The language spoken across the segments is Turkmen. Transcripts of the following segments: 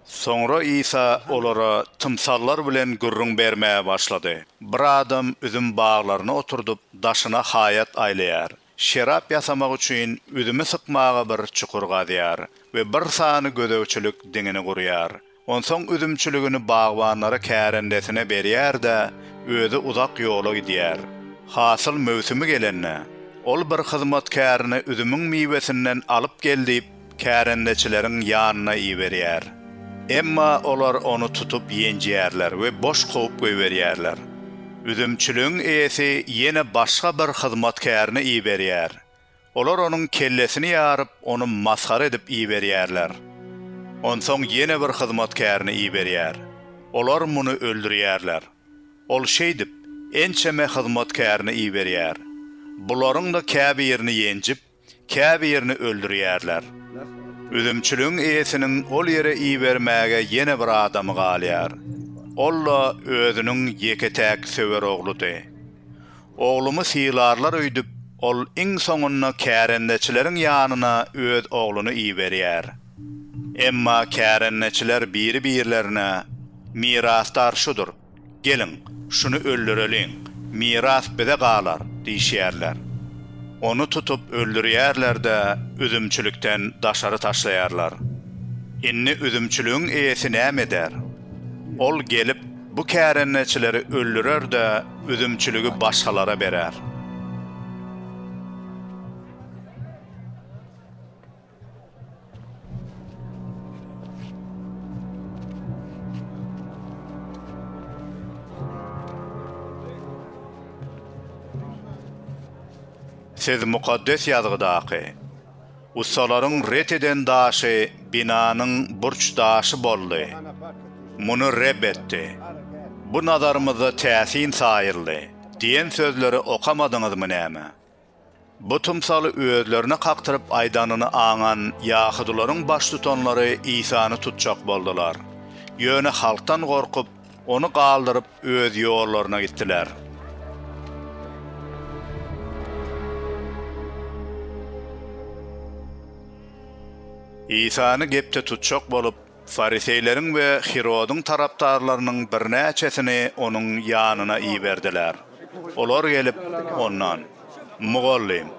Soňra Isa olara tymsallar bilen gürrüň bermäge başlady, Bir adam üzüm baglaryny oturdyp, daşyna haýat aýlaýar. Şerap ýasamak üçin üzümi sykmaga bir çukur gazýar we bir sany gözegçilik diňini gurýar. Onsoň üzümçiligini bagbanlara kärendesine berýär-de, özi uzak ýola gidýär. Hasyl möwsümi gelende, ol bir hyzmatkärini üzümiň miwesinden alyp gel diýip, kärendeçileriň ýanyna iberýär. Emma olar ony tutup ýenjýärler we boş kowup goýberýärler. Üzümçiligiň eýesi ýene başga bir hyzmatkärini iberýär. Olar onuň kellesini ýaryp, ony masgara edip iberýärler. Onsoň ýene bir hyzmatkärini iberýär. Olar muny öldürýärler. Ol şeýdip, ençeme hyzmatkärini iberýär. Bularyň-da käbirini ýenjip, käbirini öldürýärler. Üzümçiligiň eýesiniň ol ýere ibermäge ýene bir adamy galýar. Ol-da özüniň ýeke-täk söwer ogludy. Oglumy sylarlar öýdüp, ol iň soňunda kärendeçileriň ýanyna öz ogluny iberýär. Emma kärendeçiler biri-birlerine, Mirasdar şudur, geliň, şuny öldüreliň, miras bize galar diýişýärler. Ony tutup öldürýärler-de, üzümçilikden daşary taşlaýarlar. Indi üzümçiligiň eýesi näme eder? Ol gelip. Bu kärendeçileri öldürer-de, üzümçiligi başgalara berer. Siz Mukaddes Ýazgydaky. Ussalaryň ret eden daşy binanyň burç daşy boldy. Muny Reb etdi. Bu nazarymyzda täsin saýyldy diýen sözleri okamadyňyzmy näme? Bu tymsaly özlerine kakdyryp aýdanyny aňan ýahudylaryň baştutanlary Isany tutjak boldular. Ýöne halkdan gorkup, Ony galdyryp, öz ýollaryna gitdiler. Isany gepde tutjak bolup, fariseýleriň we Hirodyň tarapdarlarynyň birnäçesini onuň ýanyna iberdiler. Olar gelip, ondan, Mugallym,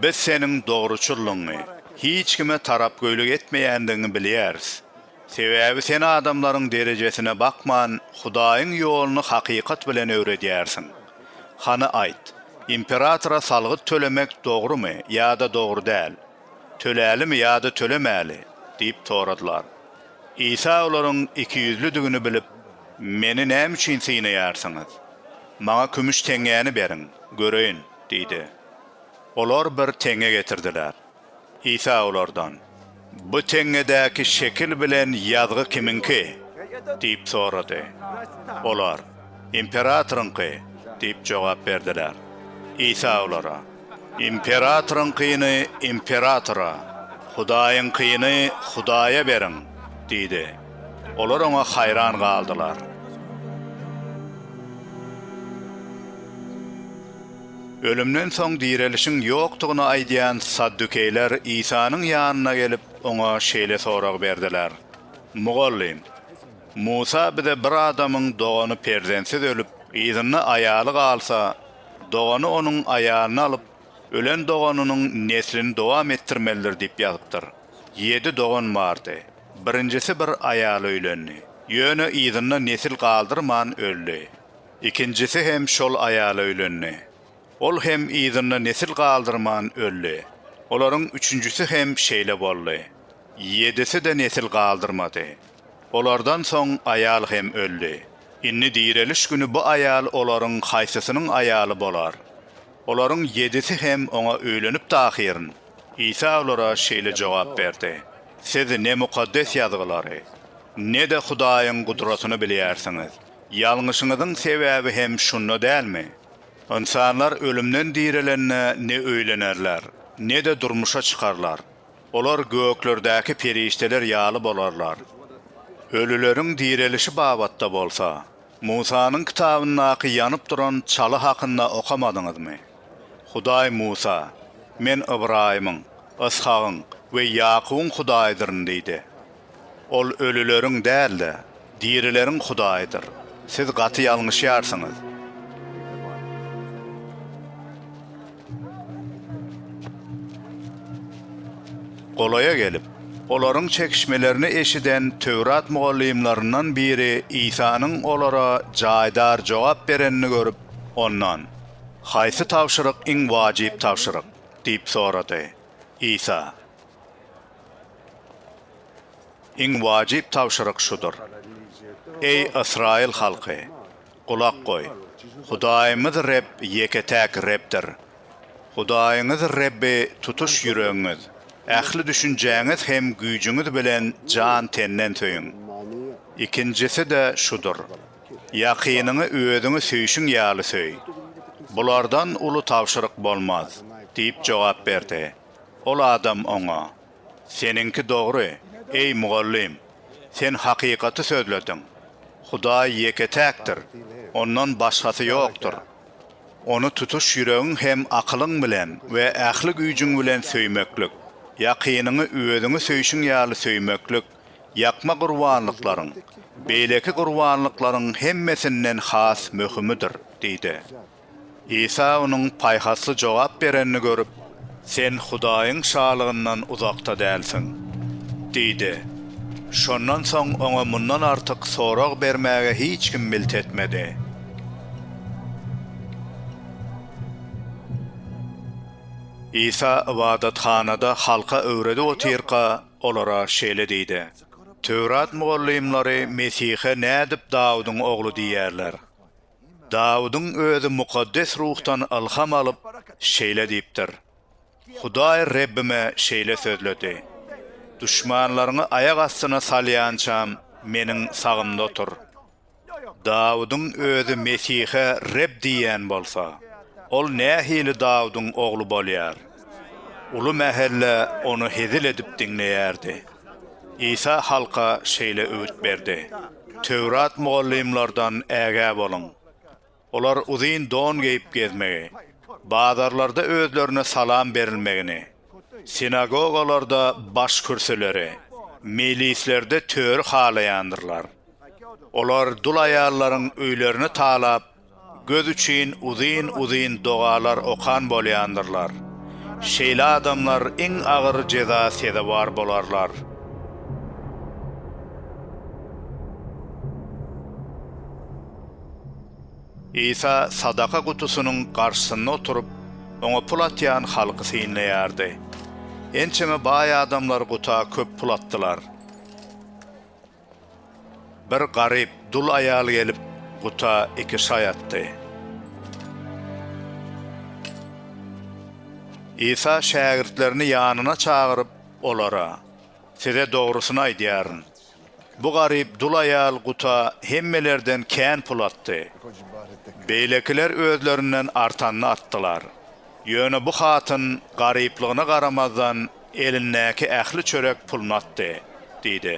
biz seniň dogruçyllygyňy, hiç kime tarapgöýlik etmeýändigiňi bilýäris. Sebäbi sen adamlaryň derejesine bakman, Hudaýyň ýoluny hakykat bilen öwredýärsiň. Hany aýt, imperatora salgyt tölemek dogrumy ýa-da dogry däl? Tölälimi ýa-da tölemäli? diýip soradylar. Isa olaryň ikiýüzlüdigini bilip, Meni näme üçin synaýarsyňyz? Maňa kümüş teňňäni beriň, göreýin diýdi. Olar bir teňňe getirdiler. Isa olardan, Bu teňňedäki şekil bilen ýazgy kimiňki? diýip sorady. Olar, Imperatoryňky diýip jogap berdiler. Isa olara, Imperatoryňkyny imperatora, Hudaýyňkyny Hudaýa beriň diýdi. Olar oňa haýran galdylar. Ölümden soň direlişiň ýokdugyny aýdýan saddukeýler Isanyň ýanyna gelip, oňa şeýle sorag berdiler, Mugallym, Musa bize bir adamyň dogany perzentsiz ölüp, yzynda aýaly galsa, dogany onuň aýalyny alyp, ölen doganynyň neslini dowam etdirmelidir diýip ýazypdyr. Ýedi dogan bardy. Birinjisi bir aýala öýlendi. Ýöne yzynda nesil galdyrman öldi. Ikinjisi hem şol aýala öýlendi. Ol hem yzynda nesil galdyrman öldi. Olaryň üçünjisi hem şeýle boldy. Ýedisi-de nesil galdyrmady. Olardan soň aýal hem öldi. Indi direliş güni bu aýal olaryň haýsysynyň aýaly bolar? Olaryň ýedisi hem oňa öýlenipdi ahyryn. Isa olara şeýle jogap berdi, Siz ne Mukaddes Ýazgylary, ne-de Hudaýyň gudratyny bilýärsiňiz. Ýalňyşyňyzyň sebäbi hem şunda dälmi? Ynsanlar ölümden direlende ne öýlenerler, ne-de durmuşa çykarlar. Olar göklerdäki perişdeler ýaly bolarlar. Ölüleriň direlişi babatda bolsa, Musanyň kitabyndaky ýanyp duran çaly hakynda okamadyňyzmy? Hudaý Musa, Men Ybraýymyň, Yshagyň we Ýakubyň Hudaýydyryn diýdi. Ol ölüleriň däl-de, dirileriň Hudaýydyr. Siz gaty ýalňyşýarsyňyz. Golaýa gelip, olaryň çekişmelerini eşiden Töwrat mugallymlaryndan biri Isanyň olara jaýdar jogap berenini görüp, Ondan, Haýsy tabşyryk iň wajyp tabşyryk? diýip sorady. Isa. Iň wajyp tabşyryk şudur, Eý, ysraýyl halky, gulak goý! Hudaýymyz Reb ýeke-täk Rebdir. Hudaýyňyz Rebbi tutuş ýüregiňiz, ähli düşünjäňiz hem güýjüňiz bilen jan-tenden söýüň. Ikinjisi-de şudur, Ýakynyňy özüňi söýşüň ýaly söý. Bulardan uly tabşyryk bolmaz! diýip jogap berdi. Ol adam oňa, Seniňki dogry, eý, mugallym! Sen hakykaty sözlediň. Hudaý ýeke-täkdir, Ondan başgasy ýokdur. Ony tutuş ýüregiň hem akylyň bilen we ähli güýjüň bilen söýmeklik, ýakynyňy özüňi söýşüň ýaly söýmeklik ýakma gurbanlyklaryň, beýleki gurbanlyklaryň hemmesinden has möhümidir diýdi. Isa onuň paýhasly jogap berenini görüp, Sen Hudaýyň Şalygyndan uzakda dälsiň! diýdi. Şondan soň oňa mundan artyk sorag bermäge hiç kim milt etmedi. Isa ybadathanada halka öwredip otyrka, olara şeýle diýdi, Töwrat mugallymlary Mesihe nädip Dawudyň ogly diýýärler? Dawudyň özi mukaddes ruhdan ylham alyp, şeýle diýipdir, Hudaý Rebbime şeýle sözledi, Duşmanlaryňy aýak astyna salýançam, Meniň sagymda otur. Dawudyň özi Mesihe Reb diýýän bolsa, ol nähili Dawudyň ogly bolýar? Uly mähelle ony hezil edip diňleýärdi. Isa halka şeýle öwüt berdi, Töwrat mugallymlardan ägä boluň. Olar uzyn don geýip gezmegi, bazarlarda özlerine salam berilmegini, sinagogalarda baş kürsüleri, meýlislerde töri halaýandyrlar. Olar dul aýallaryň öýlerini talap, Göz üçin uzyn-uzyn dogalar okan bolýandyrlar. Şeýle adamlar iň agyr jeza sezewar bolarlar. Isa sadaka gutusynyň garşysynda oturyp, oňa pul atýan halky synlaýardy. Ençeme baý adamlar guta köp pul atdylar. Bir garyp dul aýal gelip, guta iki şaý atdy. Isa şägirtlerini ýanyna çagyryp, olara, Size dogrusyny aýdýaryn, bu garyp dul aýal guta hemmelerden kän pul atdy. Beýlekiler özlerinden artanyny atdylar. Ýöne bu hatyn garyplygyna garamazdan Elindäki ähli çörek puluny atdy, diýdi.